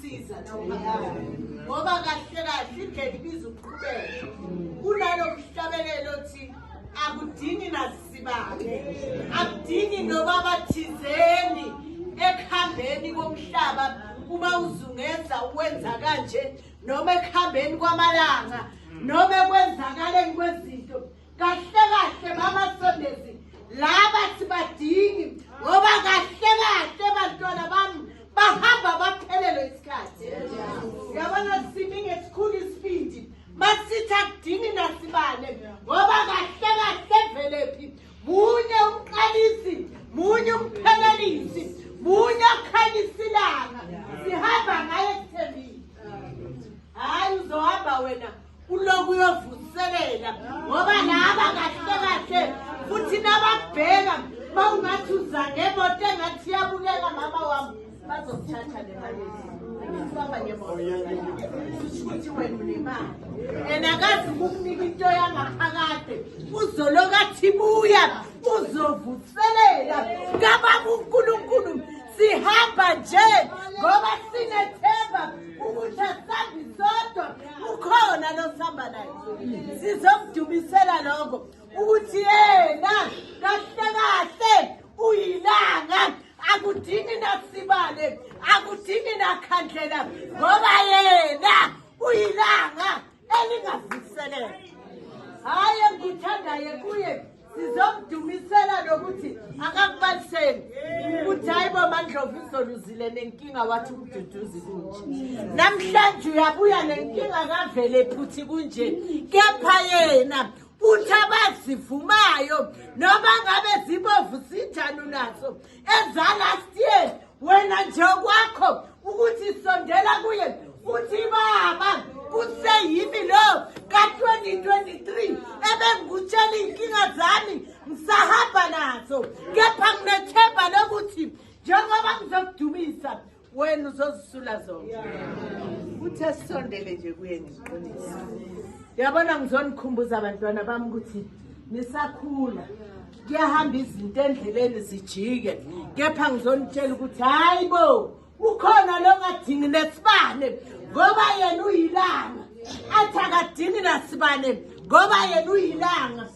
siza nomphakathi ngoba kahle kahle indlela ibiza ukuqhubeka kunalo mhlabelelo othi akudingi nasibake akudingi noba bathizeni ekuhambeni komhlaba uma uzungeza uwenza kanje noma ekuhambeni kwamalanga noma ekwenzakaleni kwezinto kahle kahle mama sondezi laba sibadingi ngoba kahle kahle bantwana bami bahamba baphelelwe isikhathi yabona simi ngesikhulu isibindi masitha kudingi nasibane ngoba kahle kahle velephi munye umqalisi munye umphelelisi munye okhanyisa ilanga sihamba ngaye kuthembile hhayi uzohamba wena Uloku uyovuselela ngoba laba kahle kahle futhi nabakubheka bawungathi uza ngemoto engathi iyabukeka mama wami bazokuthatha le mali baba ngemoto ukuthi wena unemali and akazi ukukunika into yangaphakade uzoloku athi buya uzovuselela kababa unkulunkulu sihamba nje ngoba sinethemba ukuthi asambi sodwa ukhona losihamba naye sizomdubisela lokho ukuthi yena kahle kahle uyilanga akudingi nasibale akudingi nakhandlela ngoba yena uyilanga elingavuselelwa hhayi engikuthandayo kuye sizomdumisela nokuthi akakubaliseli ukuthi hayi bo mandlovu izoluzile nenkinga wathi umduduzi kunje namhlanje uyabuya nenkinga kavele phuthi kunje kepha yena uthi abazivumayo noma ngabe zibovu sinjani unazo eza last year wena nje kwakho ukuthi sondela kuye uthi baba kuseyimi lo ka-2023 ebengikutshela iy'nkinga zami ngisahamba nazo kepha nginethemba lokuthi njengoba ngizokudumisa wena uzozisula zonke uthi asisondele nje kuye ngiqinisa yabona ngizonikhumbuza abantwana bami ukuthi nisakhula kuyahamba izinto endleleni zijike kepha ngizonitshela ukuthi hayi bo ukhona lo ngadingi nesibane ngoba yena uyilanga athi akadingi nasibane ngoba yena uyilanga